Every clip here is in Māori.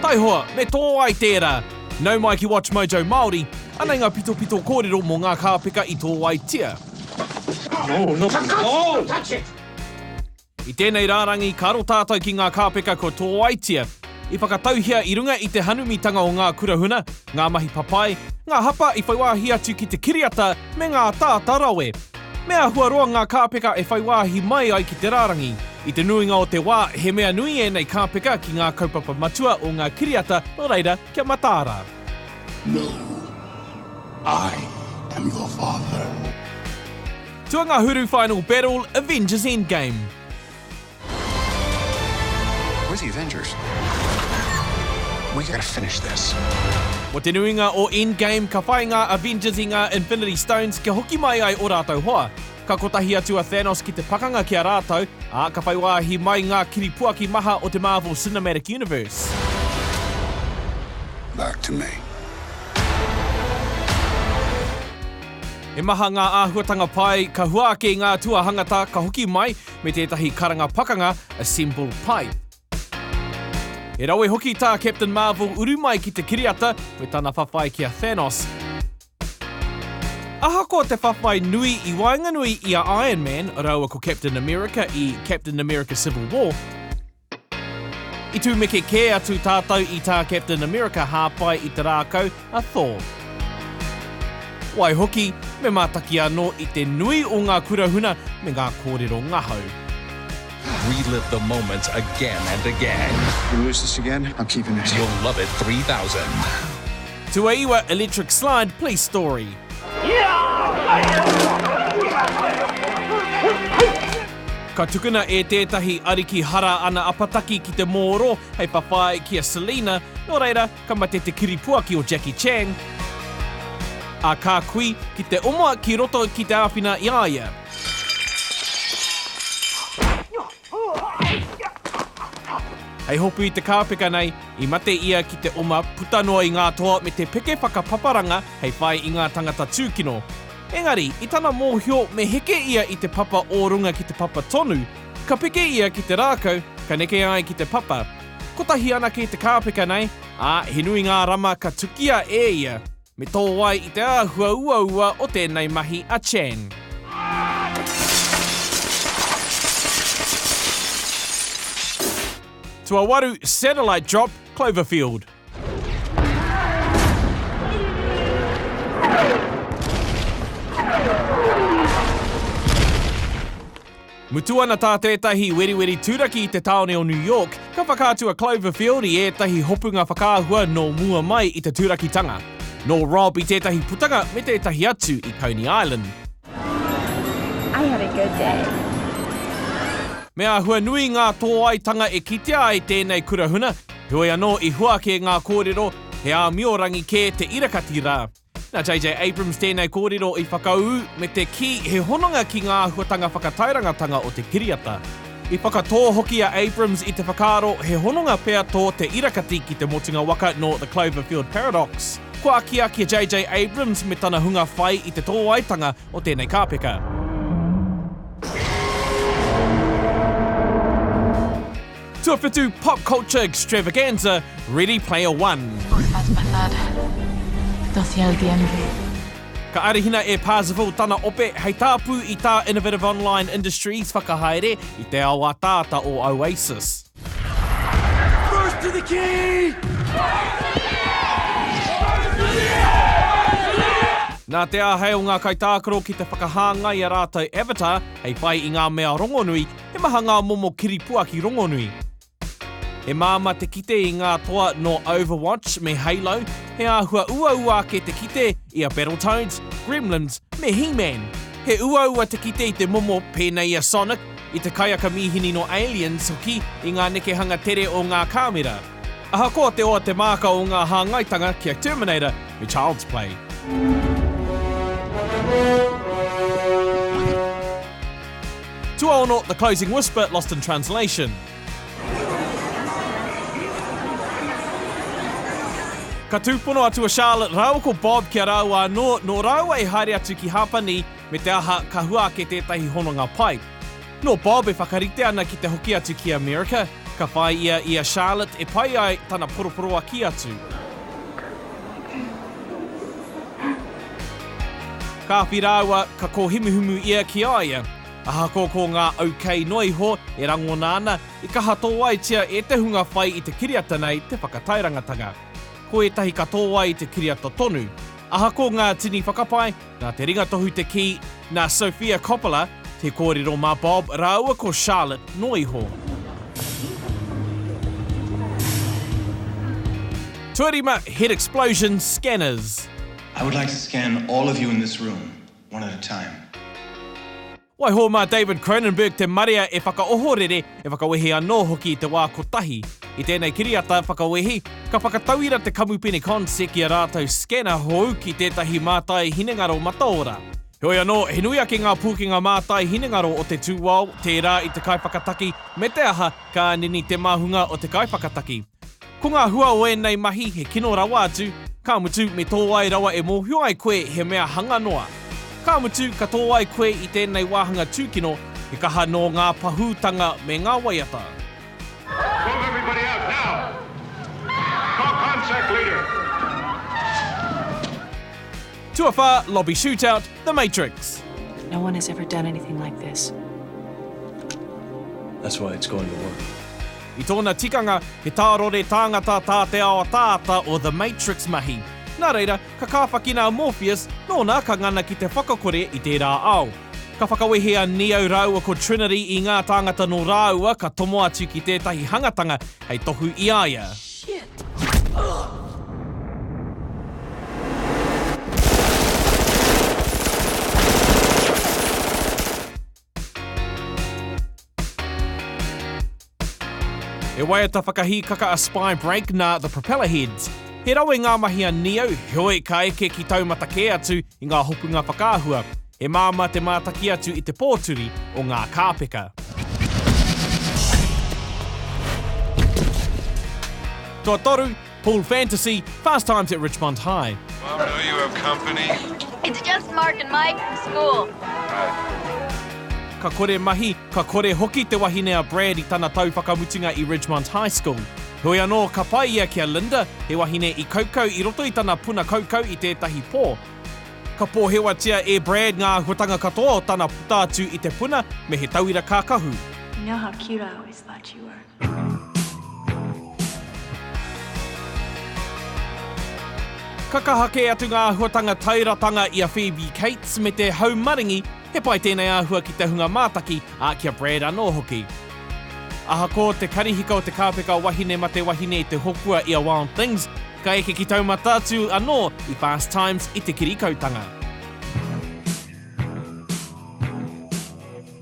Taihoa, me tō ai tērā! Nau mai ki WatchMojo Māori, anei ngā pitopito kōrero mō ngā kāpeka i tō ai tia. I tēnei rārangi ka aro tātou ki ngā kāpeka kua tō ai tia, i whakatauhia i runga i te hanumitanga o ngā kurahuna, ngā mahi papai, ngā hapa i whai wāhi atu ki te kiriata me ngā ataata rawe. Me āhua roa ngā kāpeka e whai wāhi mai ai ki te rārangi. I te nuinga o te wā, he mea nui ēnei kāpeka ki ngā kaupapa matua o ngā kiriata, nō reira, kia mataara. No, I am your father. Tuangahuru Final Battle, Avengers Endgame. We're the Avengers. We gotta finish this. Mo te nuinga o Endgame, ka whai ngā Avengers i ngā Infinity Stones kia hoki mai ai o rātou hoa. Ka kotahi atu a Thanos ki te pakanga ki a rātou, ā, ka whai wāhi mai ngā kiripuaki maha o te Marvel Cinematic Universe. Back to me. He maha ngā āhuatanga pai, ka hua ake i ngā tuahangata, ka hoki mai, me tētahi karanga pakanga assembled pai. He rawe hoki tā Captain Marvel uru mai ki te kiriata me tana whawhai ki a Thanos. Ahakoa te whawhai nui i waenganui i a Iron Man rāua ko Captain America i Captain America Civil War, I tūmeke kē atu tātou i tā Captain America hāpai i te rākau a Thor. Waihoki, me mātaki anō i te nui o ngā kura huna me ngā kōrero ngahau. Relive the moments again and again. You lose this again, I'm keeping it. You'll love it 3000. Tuaiwa Electric Slide Police Story. Ka tukuna e tētahi ariki hara ana apataki ki te mōro hei whawhai ki a Selina, nō reira, ka mate te kiripuaki o Jackie Chan, ā, ka kui ki te oma ki roto ki te āwhina i a ia. Hei hopu i te kāpeka nei, i mate ia ki te oma puta noa i ngā toa me te peke whakapaparanga hei whai i ngā tangata tūkino. Engari, i tana mōhio me heke ia i te papa o runga ki te papa tonu, ka peke ia ki te rākau, ka neke ai ki te papa. Kotahi anake te kāpeka nei, ā, he nui ngā rama ka tukia e ia. Me tō ai i te āhua uaua o tēnei mahi a Chang. Tuawaru, Satellite Drop, Cloverfield. Mutu ana tā tētahi weriweri turaki i te tāone o New York, ka whakaatu a Cloverfield i ētahi hopunga whakaahua nō mua mai i te turakitanga. Nō Rob i tētahi putanga me tētahi atu i Coney Island. I had a good day. Me āhua nui ngā tōaitanga e kitea ai tēnei kurahuna, Heoi anō, i hua ake ngā kōrero, he āmiorangi kē te irakati rā. Nā JJ Abrams tēnei kōrero i whakaū me te kī he hononga ki ngā āhuatanga whakatairangatanga o te kiriata. I whakatō hoki a Abrams i te whakaaro he hononga pea tō te irakati ki te motunga waka nō The Cloverfield Paradox. Kua akiaki a JJ Abrams me tana hunga whai i te tōaitanga o tēnei kāpeka. Tuawhitu Pop Culture Extravaganza Ready Player One. Ka arahina e Parzival tana ope hei tāpu i tā Innovative Online Industries whakahaere i te ao ataata o Oasis. First to the key! Nā te āhei o ngā kaitākaro ki te whakahāngai a rātou avatar hei whai i ngā mea rongonui, He maha ngā momo kiripua ki rongonui. He māmā te kite i ngā toa nō Overwatch me Halo, he āhua uaua ake te kite i a Battletoads, Gremlins me He-Man. He uaua te kite i te momo pēnei i a Sonic, i te kaiaka mīhini nō Aliens hoki i ngā nekehanga tere o ngā kāmera. Ahakoa te oa te māka o ngā hāngaitanga ki a Terminator me Child's Play. Tuaono, The Closing Whisper, Lost in Translation. Ka tūpono atu a Charlotte rāua ko Bob ki a rāua anō, nō rāua e haere atu ki Hapani, me te aha, ka hua ake tētahi hononga pai. Nō Bob e whakarite ana ki te hoki atu ki Amerika, ka whai ia i a Charlotte e pai ai tana poroporoaki atu. Kāwhi rāua ka kōhumuhumu ia ki a ia. Ahakoa ko ngā au kei noa iho e rangona ana, i kaha tōaitia e te hunga whai i te kiriata nei te whakatairangatanga. Ko ētahi ka tōai i te kiriata tonu. Ahako ngā tini whakapae, nā te ringatohu te kī, nā Sofia Coppola, te kōrero mā Bob rāua ko Charlotte noa iho. Tuarima, Head Explosion, Scanners. I would like to scan all of you in this room, one at a time. Waiho mā David Cronenberg te marea e whakaohorere, e whakawehe anō hoki i te wā kotahi. I tēnei kiriata whakawehi, ka whakatauira te kamupene Consec i a rātou scanner hou ki tētahi mātai hinengaro mataora. Heoi anō, he nui ake ngā pūkenga mātai hinengaro o te tūao, tērā i te kaiwhakataki, me te aha, ka nini te māhunga o te kaiwhakataki. Ko ngā hua o ēnei mahi he kino rawa atu, ka mutu me tō ai rawa e mōhio ai koe he mea hanga noa. Ka mutu ka tō ai koe i tēnei wāhanga tūkino, he kaha nō ngā pahūtanga me ngā waiata. Move everybody out now! Call contact leader! Tuawhā, Lobby Shootout, The Matrix. No one has ever done anything like this. That's why it's going to work. I tōna tikanga, he tārore tāngata tā te ao ataata o The Matrix mahi. Nā reira, ka kāwhakina a Morpheus, nōna ka ngana ki te whakakore i tērā ao. Ka whakawehe a Neo rāua ko Trinity i ngā tāngata nō rāua ka tomo atu ki tētahi hangatanga hei tohu i a ia. He waiata whakahīkaka a Spy Break nā The Propeller Heads. He rawe ngā mahi a Nio, heoi ka eke ki taumata kē atu i ngā hopunga whakaahua. He māmā te mātaki atu i te pōturi o ngā kāpeka. Tuatoru, Pool Fantasy, Fast Times at Richmond High. Mum, do you have company? It's just Mark and Mike from school. Right. Ka kore mahi, ka kore hoki te wahine a Brad i tana tau whakamutunga i Ridgemont High School. Heoi anō, ka whai ia ki a Linda, he wahine i kaukau i roto i tana puna kaukau i tētahi pō. Ka pōhewatia e Brad ngā āhuatanga katoa o tana puta atu i te puna me he tauira kākahu. You know how cute I always thought you were. Ka kaha kē atu ngā āhuatanga tairatanga i a Phoebe Cates me te hau maringi, he pai tēnei āhua ki te hunga mātaki, ā, ki a Brad anō hoki. Ahako te karihika o te kāpeka wahine mate wahine i te hopua i a Wild Things, ka eke ki taumata atu anō i Fast Times i te kirikautanga.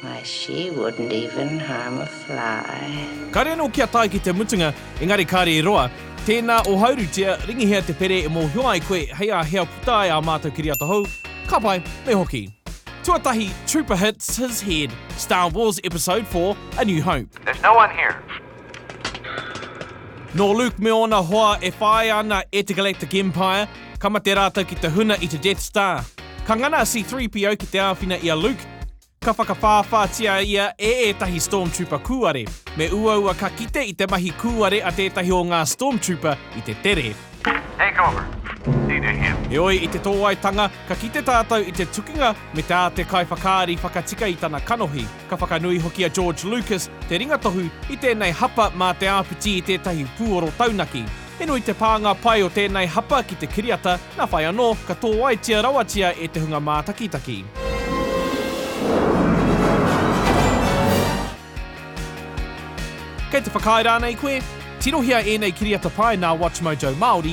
Why she wouldn't even harm a fly. Kare anō kia tae ki te mutunga, engari kare e roa. Tēnā o Haurutia, ringihia te pere e mōhio ai koe hei a hea puta ai ā mātou kiriata hou, ka pai, me hoki. Tuatahi, Trooper hits his head, Star Wars Episode for, A New Hope. There's no one here. Nō Luke me ōna hoa e whāia ana e te Galactic Empire, ka mate rātou ki te huna i te Death Star. Ka ngana a C-3PO ki te āwhina i a Luke, ka whakawhāwhātia ia e ētahi Stormtrooper kūare. Me uaua ka kite i te mahi kūare a tētahi o ngā Stormtrooper i te tere. Take over. Need to hear. Heoi, i te tōaitanga, ka kite tātou i te tukinga me te āte kaiwhakaari whakatika i tana kanohi. Ka whakanui hoki a George Lucas te ringatohu i tēnei hapa mā te āpiti i tētahi pūoro taunaki. He nui te pānga pai o tēnei hapa ki te kiriata, nā whai anō, ka tōaitia rawatia e te hunga mātakitaki. Kei te whakaae rānei koe? Tirohia ēnei kiriata pai nā WatchMojo Māori